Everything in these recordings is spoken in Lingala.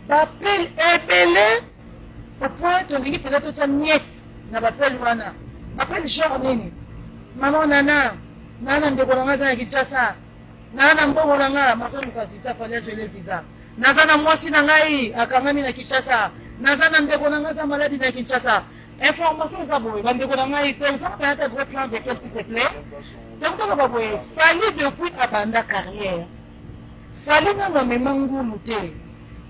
bapele ebele au point tolingi mpenza totya miete na bapele wana bapele genre nini mama nana naa na ndeko na ngai aza na kinshasa naa na mbongo na ngai mazaluka visa fali ajoele visa naza na mwasi na ngai akangami na kinshasa naza na ndeko na ngai aza maladi na kinshasa information eza boye bandeko na ngai tozabayata gros plan de quel s'il te plaît tokotaka baboye fali depuis abanda carrière Fali nanu amema ngulu te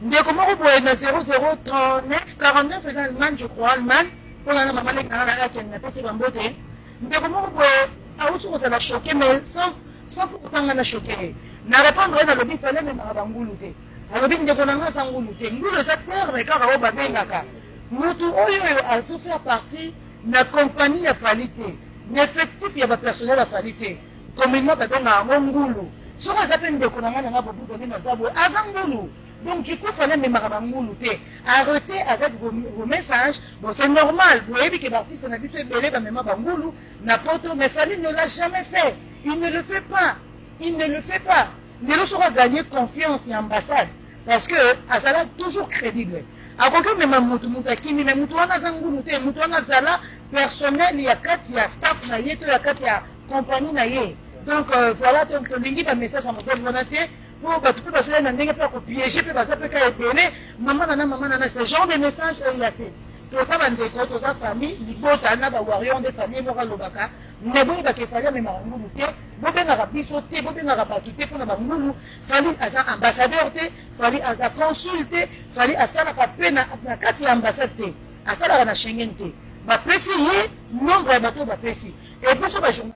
ndeko moko boye na 0039 49 eza allemagne je crois allemagne mpona na mama leki nanga nanga akende napesi bambote ndeko moko boye awuti kozala choke mai sans pour otanga na choke ye na repondre ye nalobi fale amemaka bangulu te alobi ndeko na nga aza ngulu te ngulu eza terme kaka oyo babengaka motu oyo oyo azofaire partie na kompagnie ya fali te na effectif ya bapersonnel ya fali te Communement babengaka yango ngulu. Soki aza mpe ndeko na ngai na nga bobuka nde naza boye, aza ngulu. Donc du coup fana memaka bangulu te. Arrêtez avec vos, vos messages. Bon c'est normal, boyebi ke baartiste na biso ebele bamema bangulu na poto, mais Fally ne l'a jamais fait. Il ne le fait pas. Il ne le fait pas. Lelo soki agagner confiance ya ambassade, parce que azala toujours crédible akoki omema motu motu akimi me motu wana aza ngulu te motu wana azala personnel ya kati ya staff na ye to ya kati ya compagnie na ye donc euh, voilà donc tolingi bamessage ya modele wana te mpo bato mpe bazoya na ndenge mpe ya kopiege mpe baza mpe ka ebele mama nana mama nana ce genre de message eya te toza bandeko toza famille libota na bawarrior nde famille moko alobaka me boyebaka efali amemaka ngulu te bobengaka biso te bobengaka bato te mpona bangulu fali aza ambassadeur te fali aza consul te fali asalaka mpe na kati ya ambassade te asalaka na schengen te bapesi ye nombre ya bato oyo bapesi epuso bajournal